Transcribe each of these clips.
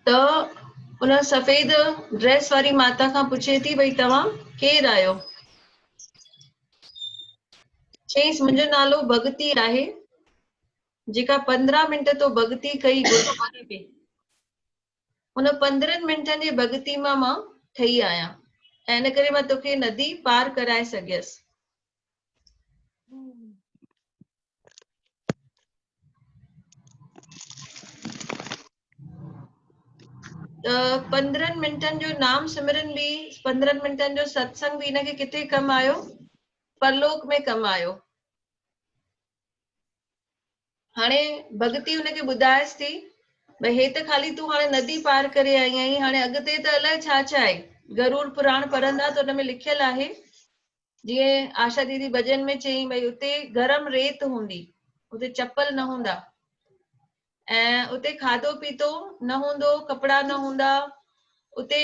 ته ان سفيد ڊريس واري ماتا کان پڇي ٿي ڀئي توهان ڪير آهيو چيس منهنجو نالو ڀڳتي آهي جيڪا پندرهن منٽ تو ڀڳتي ڪئي گهري ان پندرهن منٽن جي ڀڳتي مان مان ٺهي آهيان ۽ ان ڪري مان توکي ندي پار ڪرائي سگهيس پندرهن منٽن جو نام سمرن به پندرهن منٽن جو ستسنگ به هن کي ڪٿي ڪم آيو پرلوڪ ۾ ڪم آيو هاڻي ڀڳتي هن کي ٻڌائيس ٿي، ڀئي هي ته خالي تون هاڻي ندي پار ڪري آئي آهين، هاڻي اڳتي ته الائي ڇا ڇا آهي. گروڙ پراڻ پڙهندا ته ان ۾ لکيل آهي، جيئن آشا ديدي ڀڄن ۾ چيائين ڀئي اتي گرم ريت هوندي، اتي چپل نه هوندا ۽ اتي کاڌو پيتو نه هوندو، ڪپڙا نه هوندا، اتي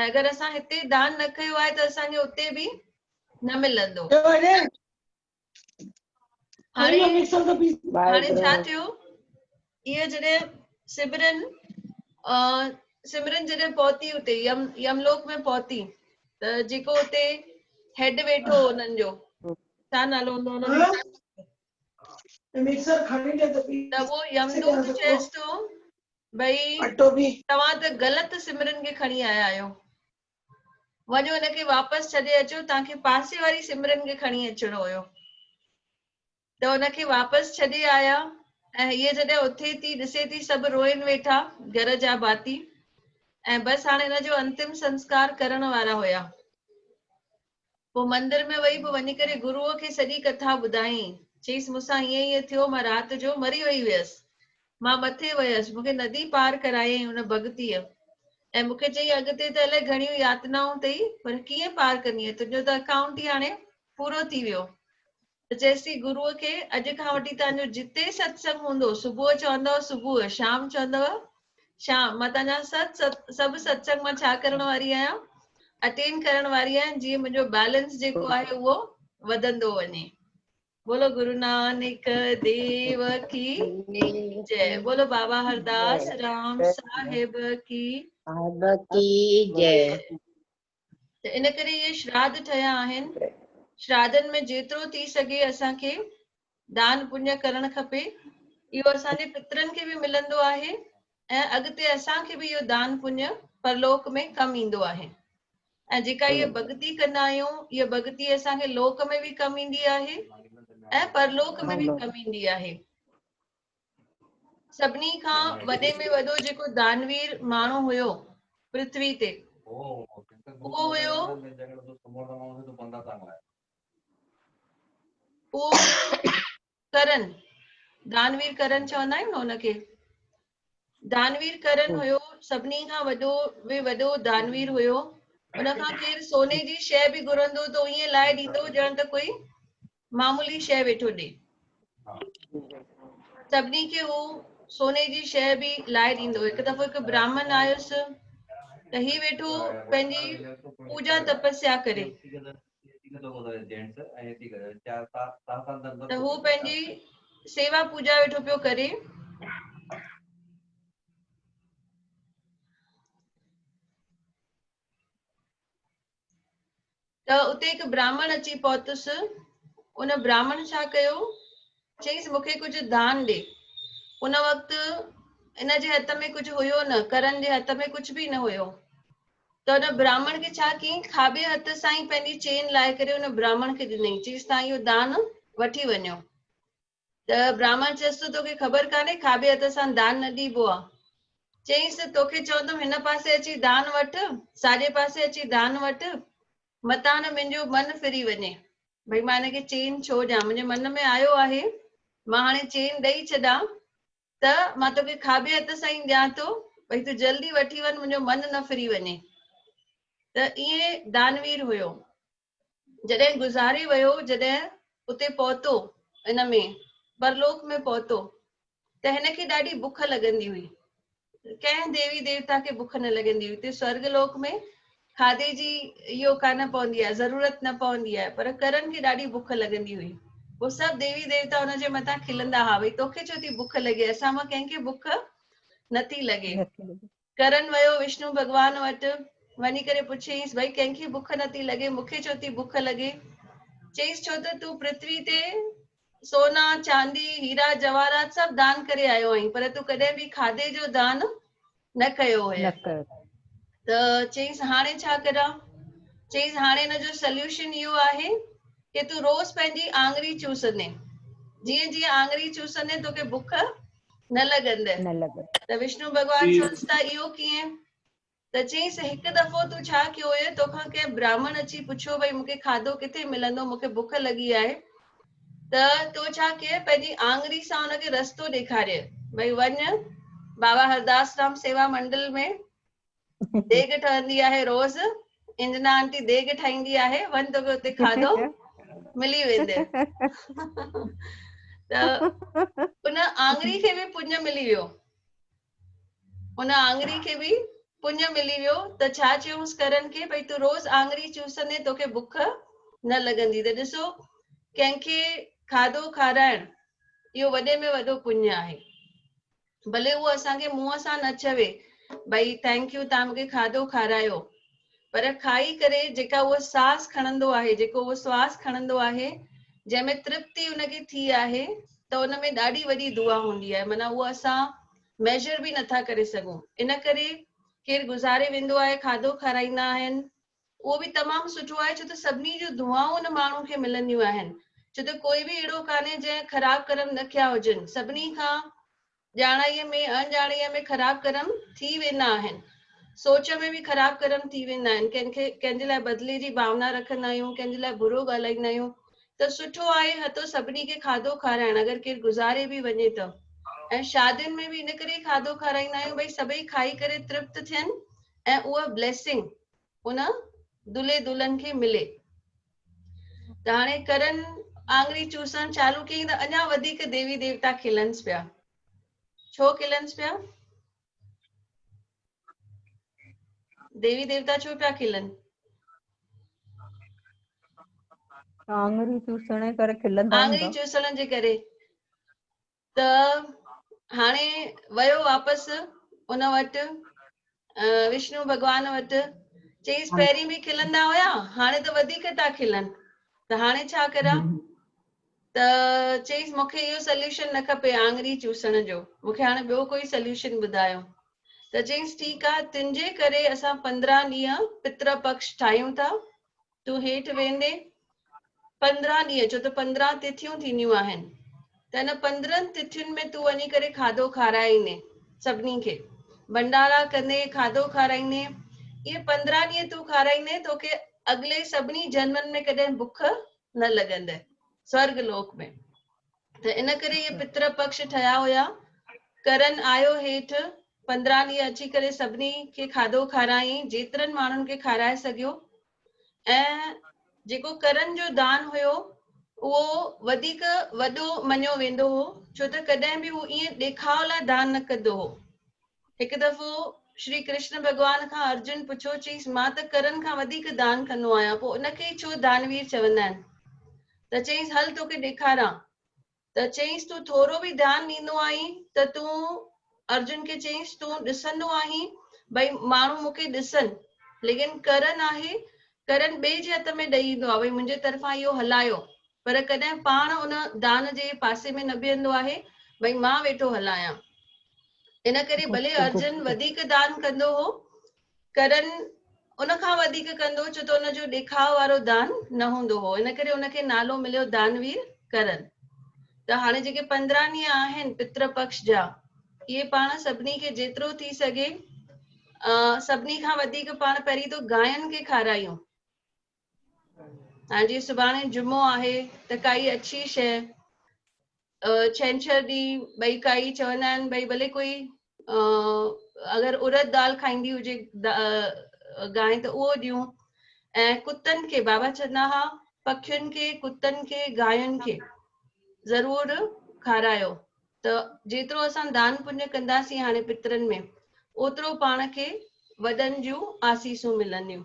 ۽ اگر اسان هتي دان نه ڪيو آهي ته اسان کي اتي به نه ملندو. هاڻي هاڻي ڇا ٿيو؟ اهي جڏهن سمرن سمرن جڏهن پهتي اتي يم يملوڪ ۾ پهتي ته جيڪو اتي هيڊ ويٺو هو انهن جو ڇا نالو هوندو انهن جو ته اهو يمدوت چيس ٿو ڀئي اٽو به توهان ته غلط سمرن کي کڻي آيا آهيو وڃو ان کي واپس ڇڏي اچو توهان کي پاسي واري سمرن کي کڻي اچڻو هيو ته ان کي واپس ڇڏي آيا ۽ هيء جڏهن اٿي ٿي ڏسي ٿي سڀ روئن ويٺا گهر جا ڀاتي ۽ بس هاڻي ان جو انتم سنسڪار ڪرڻ وارا هيا پوء مندر ۾ وئي پوء وڃي ڪري گروء کي سڄي ڪٿا ٻڌائين. چيس مون سان ائين ائين ٿيو مان رات جو مري وئي هيس. مان مٿي ويس. مون کي ندي پار ڪرايائين ان ڀڳتيء ۽ مون کي چيائين اڳتي ته الائي گهڻيون ياتنائون اٿئي پر ڪيئن پار ڪندينء تنهنجو ته اڪائونٽ ئي هاڻي پورو ٿي ويو. چيسي گروء کي اڄ کان وٺي تان جو جتي ست سنگ هوندو صبح چوندؤ صبح شام چوندؤ شام مان تان جا ست ست سڀ ست سنگ مان ڇا ڪرڻ واري آهيان اٽينڊ ڪرڻ واري آهيان جي منهنجو بيلنس جيڪو آهي اهو وڌندو وڃي بولو گرو نانڪ ديو ڪي جي بولو بابا هرداس رام صاحب ڪي جي ته ان ڪري اهي شراڌ ٺهيا آهن شراڌن ۾ جيترو ٿي سگهي اسان کي دان پڃ ڪرڻ کپي اهو اسان جي پترن کي به ملندو آهي ۽ اڳتي اسان کي به اهو دان پڃ پرلوڪ ۾ ڪم ايندو آهي ۽ جيڪا اهي بگتي ڪندا آهيون اهي بگتي اسان کي لوڪ ۾ به ڪم ايندي آهي ۽ پرلوڪ ۾ به ڪم ايندي آهي سڀني کان وڏي ۾ وڏو جيڪو دانوير ماڻهو هيو پرٿوي تي اهو هيو ڪرن دانوير ڪرن چوندا آهيون نه هن کي دانوير ڪرن هيو سڀني کان وڏو به وڏو دانوير هيو ان کان ڪير سوني جي شي به گهرندو ته ائين لائي ڏيندو ڄڻ ته ڪوئي معمولي شيء ويٺو ڏي. سڀني کي هو سوني جي شيء به لائي ڏيندو. هڪ دفعو هڪ براهمن آيس ته هي ويٺو پنهنجي پوڄا تپسيا ڪري ته هو پنهنجي سيوا پوڄا ويٺو پيو ڪري. ته اتي هڪ براهمڻ اچي پهتس ان براهمڻ ڇا ڪيو چيس مون کي ڪجهه دان ڏي ان وقت ان جي هٿ ۾ ڪجهه هيو نه ڪرن جي هٿ ۾ ڪجهه به نه هيو ته ان براهمڻ کي ڇا ڪيئي کاٻي هٿ سان ئي پنهنجي چين لائي ڪري ان براهمڻ کي ڏني چيس تان اهو دان وٺي وڃو ته برهمڻ چيس ته توکي خبر ڪانهي کاٻي هٿ سان دان نه ڏيبو آ. چيس ته توکي چوندم هن پاسي اچي دان وٺ، ساڄي پاسي اچي دان وٺ، متان منهنجو من ڦري وڃي. ڀئي مان هن کي چين ڇو ڏيان؟ منهنجي من ۾ آيو آهي مان هاڻي چين ڏئي ڇڏان ته مان توکي کاٻي هٿ سان ئي ڏيان ٿو، ڀئي تون جلدي وٺي وڃ منهنجو من نه ڦري وڃي. ته ائين دانوير هيو. جڏهن گذاري ويو، جڏهن اتي پهتو، ان ۾ پرلوڪ ۾ پهتو ته هن کي ڏاڍي بک لڳندي هئي. ڪنهن ديوي ديوتا کي بک نه لڳندي هئي. اتي سورڳ لوڪ ۾ کاڌي جي اهو ڪا نه پوندي آهي، ضرورت نه پوندي آهي، پر ڪرن کي ڏاڍي بک لڳندي هئي. پوء سڀ ديوي ديوتا هن جي مٿان کلندا ها، ڀئي توکي ڇو ٿي بک لڳي، اسان مان ڪنهن کي بک نه ٿي لڳي. ڪرن ويو وشنو ڀڳوان وٽ، وڃي ڪري پڇيائينس، ڀئي ڪنهن کي بک نه ٿي لڳي، مون کي ڇو ٿي بک لڳي؟ چيس، ڇو ته تون پرٿوي تي سونا، چاندي، هيرا جواهرات سڀ دان ڪري آيو آهين، پر تون ڪڏهن به کاڌي جو دان نه ڪيو هئين. ته چيس، هاڻي ڇا ڪريان؟ چيس، هاڻي ان جو سليوشن اهو آهي ڪي تون روز پنهنجي آڱري چوسندين، جيئن جيئن آڱري چوسندين توکي بک نه لڳندء. نه لڳندء. ته وشنو ڀڳوان چونس ته اهو ڪيئن؟ ته چيائينس هڪ دفعو تون ڇا ڪيو هئي تو کان ڪنهن براهمڻ اچي پڇيو ڀئي مون کي کاڌو ڪٿي ملندو مون کي بک لڳي آهي ته تو ڇا ڪيئي پنهنجي آڱري سان ان کي رستو ڏيکاريئي ڀئي وڃ بابا هرداس رام سيوا منڊل ۾ ديڳ ٺهندي آهي روز انجنا آنٽي ديڳ ٺاهيندي آهي وڃ توکي اتي کاڌو ملي ويندي ته ان آڱري کي به پڃ ملي ويو ان آڱري کي به پڃ ملي ويو ته ڇا چيوس ڪرن کي ڀئي تون روز آڱري چوسندي توکي بک نه لڳندي ته ڏسو ڪنهن کي کاڌو کارائڻ اهو وڏي ۾ وڏو پڃ آهي ڀلي هو اسان کي منهن سان نه چوي ڀئي ٿينڪ يو تان مونکي کاڌو کارايو پر کائي ڪري جيڪا هو ساس کڻندو آهي جيڪو هو سواس کڻندو آهي جنهن ۾ ترپتي ان کي ٿي آهي ته ان ۾ ڏاڍي وڏي دعا هوندي آهي معنيٰ اهو اسان ميجر به نٿا ڪري سگهون ان ڪري ڪير گذاري ويندو آهي کاڌو کارائيندا آهن اهو به تمام سٺو آهي ڇو ته سڀني جون دعائون ان ماڻهو کي ملنديون آهن ڇو ته ڪوئي به اهڙو ڪانهي جنهن خراب ڪرم نه ڪيا هجن سڀني کان ڄاڻائيء ۾ اڻ ڄاڻائيء ۾ خراب ڪرم ٿي ويندا آهن سوچ ۾ به خراب ڪرم ٿي ويندا آهن ڪنهن کي ڪنهن جي لاء بدلي جي ڀاونا رکندا آهيون ڪنهن جي لاء برو ڳالهائيندا آهيون ته سٺو آهي هتو سڀني کي کاڌو کارائڻ اگر ڪير گذاري به وڃي ته ۽ شادين ۾ به ان ڪري کاڌو کارائيندا آهيون ڀئي سڀئي کائي ڪري ترپت ٿين ۽ اها بليسنگ ان دلهي دلهن کي ملي ته هاڻي ڪرن آڱري چوسڻ چالو ڪيائين ته اڃا وڌيڪ ديوي ديوتا کلنس پيا ڇو کلنس پيا ديوي ديوتا ڇو پيا کلن آڱري چوسڻ ڪري کلندا آڱري چوسڻ جي ڪري ته هاڻي ويو واپس ان وٽ وشنو ڀڳوان وٽ چيس پهرين به کلندا هيا هاڻي ته وڌيڪ ٿا کلن ته هاڻي ڇا ڪران ته چيس مون کي اهو سليوشن نه کپي آڱري چوسڻ جو مون کي هاڻي ٻيو ڪوئي سليوشن ٻڌايو ته چيس ٺيڪ آهي تنهنجي ڪري اسان پندرهن ڏينهن پتر پڪش ٺاهيون ٿا تون هيٺ ويندين پندرهن ڏينهن چو ته پندرهن تٿيون ٿينديون آهن ته ان پندرهن تٿين ۾ تون وڃي ڪري کاڌو کارائي ايندين سڀني کي ڀنڊارا ڪندين کاڌو کارائيندين اهي پندرهن ڏينهن تون کارائيندين توکي اڳلي سڀني جنمن ۾ ڪڏهن بک نه لڳندي سورگ لوڪ ۾ ته ان ڪري اهي پتر پڪش ٺهيا هيا ڪرن آيو هيٺ پندرهن ڏينهن اچي ڪري سڀني کي کاڌو کارايائين، جيترن ماڻهن کي کارائي سگهيو ۽ جيڪو ڪرن جو دان هيو، اهو وڌيڪ وڏو مڃيو ويندو هو، ڇو ته ڪڏهن به هو ائين ڏيکاء لاء دان نه ڪندو هو. هڪ دفعو شري ڪرشن ڀڳوان کان ارجن پڇيو، چيس، مان ته ڪرن کان وڌيڪ دان ڪندو آهيان، پوء ان کي ئي ڇو دانوير چوندا آهن؟ ته چيس، هل توکي ڏيکاران. ته چيس تون ٿورو به ڌيان ڏيندو آهين ته تون ارجن کي چيس تون ڏسندو آهين ڀئي ماڻهو مون کي ڏسن ليڪن ڪرن آهي ڪرن ٻئي جي هٿ ۾ ڏئي ايندو آهي ڀئي منهنجي طرفان اهو هلايو پر ڪڏهن پاڻ ان دان جي پاسي ۾ نه بيهندو آهي ڀئي مان ويٺو هلايان ان ڪري ڀلي ارجن وڌيڪ دان ڪندو هو ڪرن ان کان وڌيڪ ڪندو ڇو ته ان جو ڏيکاء وارو دان نه هوندو هو ان ڪري ان کي نالو مليو دانوير ڪرن ته هاڻي جيڪي پندرهن ڏينهن آهن پتر پڪش جا اهي پاڻ سڀني کي جيترو ٿي سگهي سڀني کان وڌيڪ پاڻ پهرين تو گاين کي کارايون ها جي سڀاڻي جمعو آهي ته ڪائي اڇي شي ڇنڇر ڏي ڀئي ڪائي چوندا آهن ڀئي ڀلي ڪوئي اگر ارد دال کائيندي هجي گانء ته اهو ڏيون ۽ ڪتن کي بابا چوندا ها پکين کي ڪتن کي گاين کي ضرور کارايو ته جيترو اسان دان پڃ ڪنداسين هاڻي پترن ۾ اوترو پاڻ کي وڏن جون آسيسون ملنديون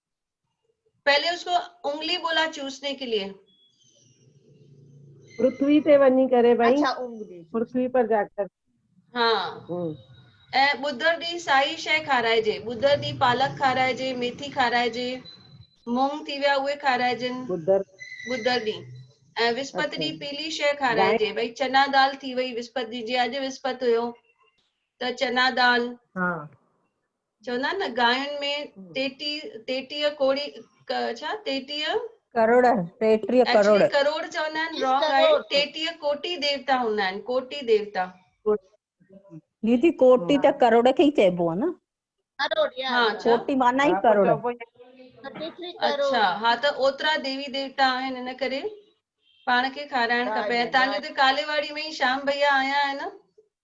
پهلي اس کو انگلي بولا چوسني ڪي ليئي. پرٿوي تي وڃي ڪري ڀائي. اڇا انگلي. پرٿوي پر جا ڪر. ها ۽ ٻڌر ڏينهن سائي شيء کارائجي. ٻڌر ڏينهن پالڪ کارائجي، ميٿي کارائجي، مونگ ٿي ويا اهي کارائجن. ٻڌر. ٻڌر ڏينهن ۽ وسپت ڏينهن پيلي شيء کارائجي. ڀائي چنا دال ٿي وئي وسپت ڏينهن جي اڄ وسپت هيو ته چنا دال. ها. چوندا آهن نه گاين ۾ ٽيٽي ٽيٽيء ڪوڙي ڇا ٽيٽيء ڪروڙ ٽيٽيء ڪروڙ ڪروڙ چوندا آهن رانگ آهي ٽيٽيء ڪوٽي ديوتا هوندا آهن ڪوٽي ديوتا ديدي ڪوٽي ته ڪروڙ کي ئي چئبو آهي نه ڪروڙ ها ڪوٽي معنيٰ ئي ڪروڙ اچھا ها ته اوترا ديوي ديوتا آهن ان ڪري پاڻ کي کارائڻ کپي ۽ تانجو ته ڪالي واڙي ۾ ئي شام ڀئيا آيا آهن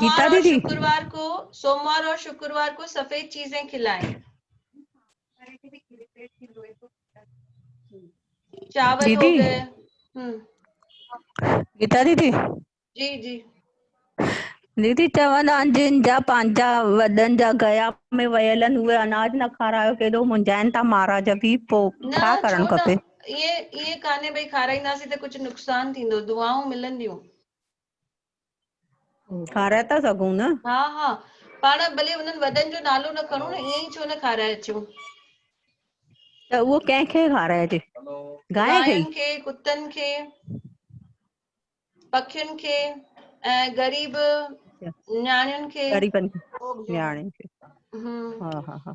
گيتا سوموار اور ديدي شڪروار ڪو سوموار اور شڪروار ڪو سفيد چيزين کلائين چاول ديدي هوگئي هم گيتا ديدي جي جي ديدي چون ها جن جا پنهنجا وڏن جا گيا ۾ ويل آهن اهي اناج نه کارايو ڪيڏو منجهائن ٿا مهاراج به پوء نه ڇا ڇو ڪرڻ نه کپي ائين ائين ڪانهي ڀئي کارائينداسين ته ڪجهه نقصان ٿيندو دعائون ملنديون کارائي ٿا سگهون نه. ها ها پاڻ ڀلي انهن وڏن جو نالو نه کڻون ائين ئي ڇو نه کارائي اچون. ته اهو ڪنهن کي کارائجي؟ گاين کي، ڪتن کي، پکين کي ۽ غريب نياڻين کي. غريبن کي نياڻين کي. ها ها ها.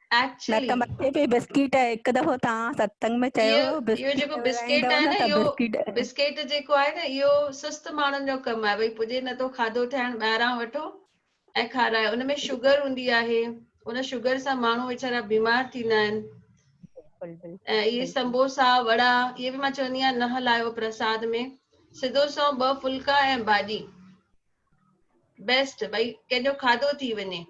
Actually. مڪ مٿي پي بسڪيٽ هڪ دفعو توهان ستسنگ ۾ چيو هيو اهو بسڪيٽ جيڪو بسڪيٽ ورائيندو آهي نه نه ته اهو بسڪيٽ بسڪيٽ جيڪو آهي نه اهو سست ماڻهن جو ڪم آهي ڀئي پڄي نه ٿو کاڌو ٺاهڻ ٻاهران وٺو ۽ کارايو ان ۾ شوگر هوندي آهي ان شوگر سان ماڻهو ويچارا بيمار ٿيندا آهن بلڪل بلڪل ۽ اهي بلڪل سمبوسا وڙا اهي به مان چوندي آهيان نه هلايو پرساد ۾ سڌو سنئون ٻه ڦلڪا ۽ ڀاڄي بيسٽ ڀئي ڪنهن جو کاڌو ٿي وڃي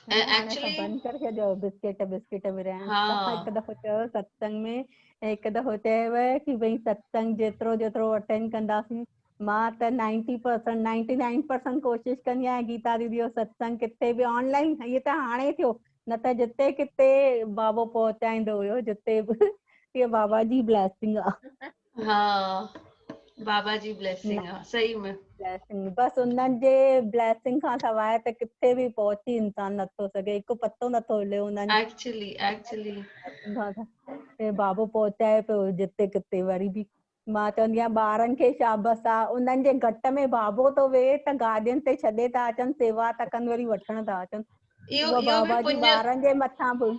بند ڪري ڇڏيو بسڪيٽ بسڪيٽ ورهائڻ هڪ دفعو چيو ستسنگ ۾ هڪ دفعو چيو ڪي ڀئي ستسنگ جيترو جيترو اٽينڊ ڪنداسين مان ته ninety percent ninety nine percent ڪوشش ڪندي آهيان گيتا ديدي جو ستسنگ ڪٿي به آن لائن هيء ته هاڻي ٿيو نه ته جتي ڪٿي بابو پهچائيندو هيو جتي به هيء بابا جي بليسنگ آهي ها بابا جي بليسنگ آ صحيح ۾ بليسنگ بس انهن جي بليسنگ کان سواء ته ڪٿي به پهچي انسان نٿو سگهي هڪ پتو نٿو هلي انهن جي ايڪچولي ايڪچولي هي بابو پهچائي پيو جتي ڪٿي وري به مان چوندي آهيان ٻارن کي شابس آ انهن جي گهٽ ۾ بابو ٿو ويهي ته گاڏين تي ڇڏي ٿا اچن سيوا ٿا ڪن وري وٺڻ ٿا اچن اهو بابا جي ٻارن جي مٿان به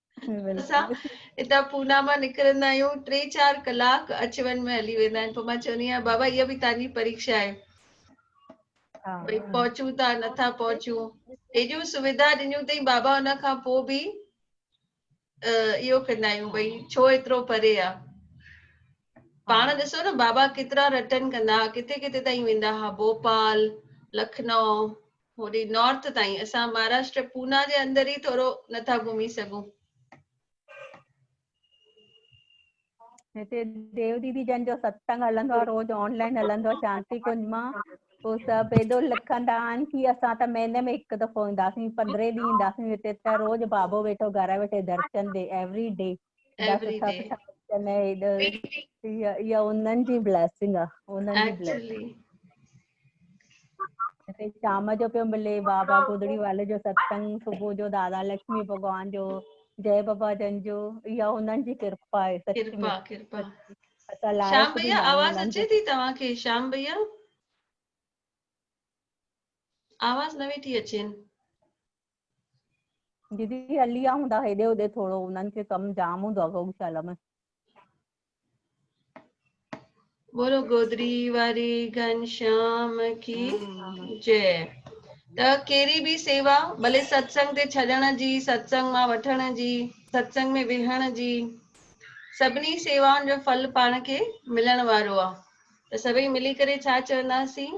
اسان اتان پونا مان نڪرندا آهيون ٽي چار ڪلاڪ اچ وڃ ۾ هلي ويندا آهن پوء مان چوندي آهيان بابا اها به تنهنجي پريڪشا آهي ڀئي پهچون ٿا نٿا پهچون اهڙيون سويڌا ڏنيون اٿئي بابا ان کان پوء به اهو ڪندا آهيون ڀئي ڇو ايترو پري آ پاڻ ڏسو نه بابا ڪيترا رٽن ڪندا ها ڪٿي ڪٿي تائين ويندا ها ڀوپال لکنو هوڏي نارٿ تائين اسان مهاراشٽر پونا جي اندر ئي ٿورو نٿا گهمي سگهون. هتي ديو ديدي جن جو ستسنگ هلندو آهي روز آنلائن هلندو آهي شانتي ڪنج مان پوء سڀ ايڏو لکندا آهن ڪي اسان ته مهيني ۾ هڪ دفعو اينداسين پندرهن ڏينهن اينداسين هتي ته روز بابو ويٺو گهر ويٺي درشن ڏي ايوري ڊي ايوري ڊي يا انهن جي بليسنگ آ انهن جي بليسنگ اتي شام جو پيو ملي بابا گودڙي والي جو ستسنگ صبح جو دادا لکمي ڀڳوان جو جي بابا جن جو يا انهن جي ڪرپا آهي سچ ڪرپا ڪرپا شام بھيا آواز اچي ٿي توهان کي شام بھيا آواز نه ويٺي اچين ديدي هلي ويا هوندا هيڏي هوڏي ٿورو انهن کي ڪم جام هوندو آهي گئوشالا ۾ بولو گودري واري گھنشام کي جي ته ڪهڙي به سيوا ڀلي ستسنگ تي ڇڏڻ جي ستسنگ مان وٺڻ جي ستسنگ ۾ ويهڻ جي سڀني سيوائن جو ڦل پاڻ کي ملڻ وارو آهي ته سڀئي ملي ڪري ڇا چونداسين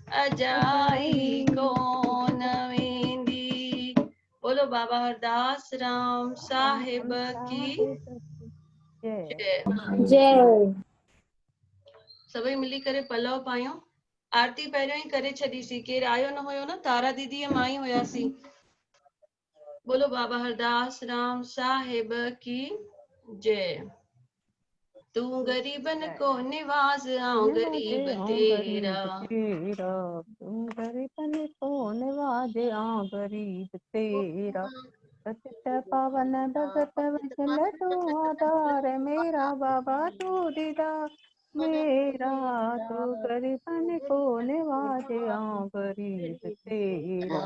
اجائي ڪون ويندي بولو بابا هرداس رام صاحب ڪي جي سڀئي ملي ڪري پلو پايون آرتي پهريون ئي ڪري ڇڏيسي ڪير آيو نه هيو نه تارا ديدي مان ئي هياسي بولو بابا هرداس رام صاحب ڪي جي تون غريبن کو نواز آئون غريب تيرا تيرا تون غريبن کو نواز آئون غريب تيرا سچ پاون ڀگت وشل تو آدار ميرا بابا تو ديدا ميرا تو غريبن کو نواز آئون غريب تيرا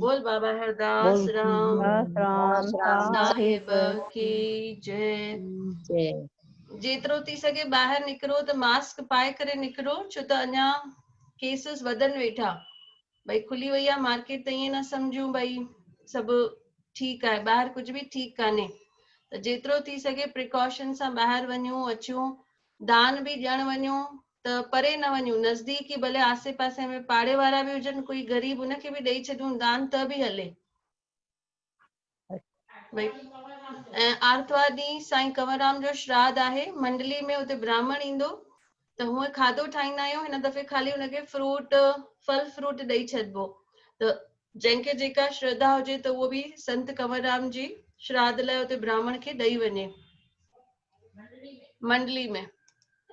بول بابا هرداس رام رام صاحب کي جي جيترو ٿي سگهي ٻاهر نڪرو ته ماسڪ پائي ڪري نڪرو ڇو ته اڃا ڪيسز وڌن ويٺا ڀئي کلي وئي آهي مارڪيٽ ته ائين نه سمجهون ڀئي سڀ ٺيڪ آهي ٻاهر ڪجهه به ٺيڪ ڪانهي ته جيترو ٿي سگهي پريڪاشن سان ٻاهر وڃون اچون دان به ڏيڻ وڃون ته پري نه وڃون، نزديڪ ئي ڀلي آسي پاسي ۾ پاڙي وارا به هجن، ڪوئي غريب ان کي به ڏئي ڇڏيون دان ته به هلي. ڀئي ۽ آرتوار ڏينهن سائين ڪنوررام جو شراڌ آهي، منڊلي ۾ اتي برهمڻ ايندو ته هونء کاڌو ٺاهيندا آهيون، هن دفعي خالي ان کي فروٽ، ڦل فروٽ ڏئي ڇڏبو ته جنهن کي جيڪا شرڌا هجي ته اهو به سنت ڪنوررام جي شراڌ لاء اتي برهمڻ کي ڏئي وڃي. منڊلي ۾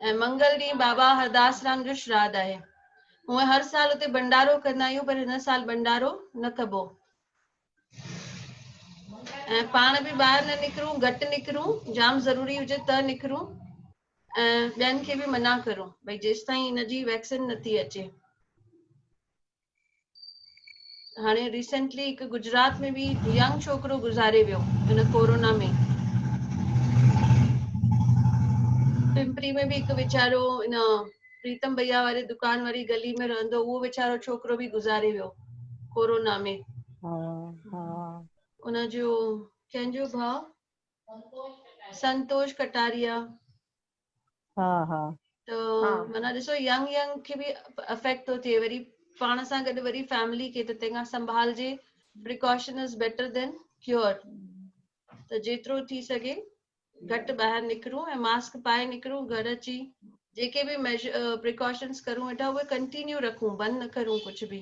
۽ منگل ڏينهن بابا هرداس رام جو شراڌ آهي هونء هر سال اتي ڀنڊارو ڪندا آهيون پر هن سال ڀنڊارو نه ڪبو ۽ پاڻ به ٻاهر نه نڪرون گهٽ نڪرون جام ضروري هجي ته نڪرون ۽ ٻين کي به منع ڪرون ڀئي جيستائين ان جي ويڪسين نٿي اچي هاڻي ريسنٽلي هڪ گجرات ۾ به ينگ ڇوڪرو گذاري ويو هن ڪورونا ۾ پمپري ۾ به هڪ ويچارو ان پريتم بيا واري دڪان واري گلي ۾ رهندو اهو ويچارو ڇوڪرو به گذاري ويو ڪورونا ۾ ان جو ڪنهن جو ڀاء سنتوش ڪٽاريا ها ها ته معنيٰ ڏسو ينگ ينگ کي به افيڪٽ ٿو ٿئي وري پاڻ سان گڏ وري فيملي کي ته تنهن کان سنڀالجي precaution is better than cure ته جيترو ٿي سگهي گهٽ ٻاهر نڪرون ۽ ماسڪ پائي نڪرون گهر اچي جيڪي به پريڪاشنس ڪرون ويٺا اهي ڪنٽينيو رکون بند نه ڪرون ڪجهه به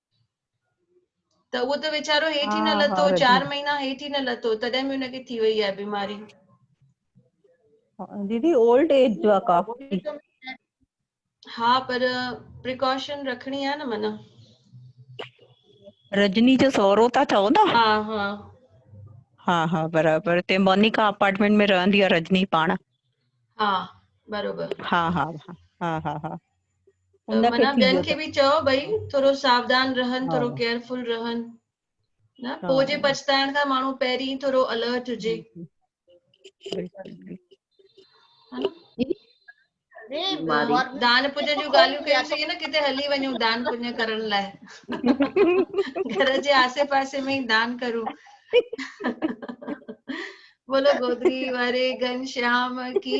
ته اهو ته ويچارو هيٺ ئي نه لٿو چار مهينا هيٺ ئي نه لٿو تڏهن به ان کي ٿي وئي آهي بيماري ديدي اولڊ ايج جو آ ڪافي ها پر پريڪاشن رکڻي آ نه من رجني جو سورو تا چئو نه ها ها ها ها برابر تي مونيڪا اپارٽمنٽ ۾ رهندي آ رجني پاڻ ها برابر ها ها ها ها ها ان کي ٿي ويو ته. چئو ڀئي ٿورو ساودان رهن ٿورو ڪيئرفل رهن نه پوء جي پڇتائڻ کان ماڻهو پهرين ٿورو الرٽ هجي دان پڃ جون ڳالهيون ڪيون سي نه ڪٿي هلي وڃو دان پڃ ڪرڻ لاء گهر جي آسي پاسي ۾ دان ڪرو بولو گودري واري گن شيام ڪي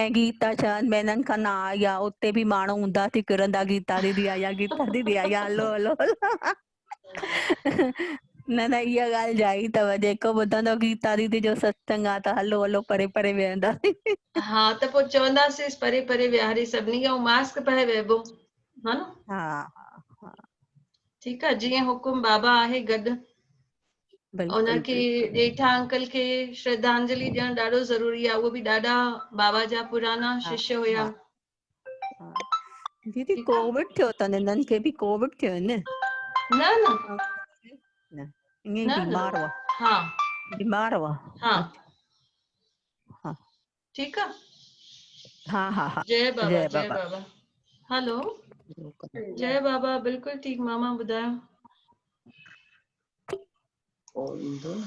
۽ گيتا ڇهن مهينن کان نه آئي آ اتي به ماڻهو اونڌا ٿي ڦرندا گيتا ديدي آئي آ گيتا ديدي آئي آ هلو هلو نه نه اها ڳالهه جائي اٿو جيڪو ٻڌندو گيتا ديدي جو ستسنگ آ ته هلو هلو پري پري ويهنداسين ها ته پوء چونداسينس پري پري ويهاري سڀني کي ۽ ماسڪ پائي ويهبو ها نه ها ها ٺيڪ آ جيئن حڪم بابا آهي گڏ ان کي ڄيٺا انڪل کي شرڌانجلي ڏيڻ ڏاڍو ضروري آ اهو به ڏاڍا بابا جا پرانا شش هيا ديدي ڪووڊ ٿيو تن انهن کي به ڪووڊ ٿيو نه نه نه نه بيمار هو ها بيمار هو ها ٺيڪ آ. ها ها ها جئي بابا جئي بابا هلو جئي بابا بلڪل ٺيڪ ماما ٻڌايو. ڪو ايندو نه.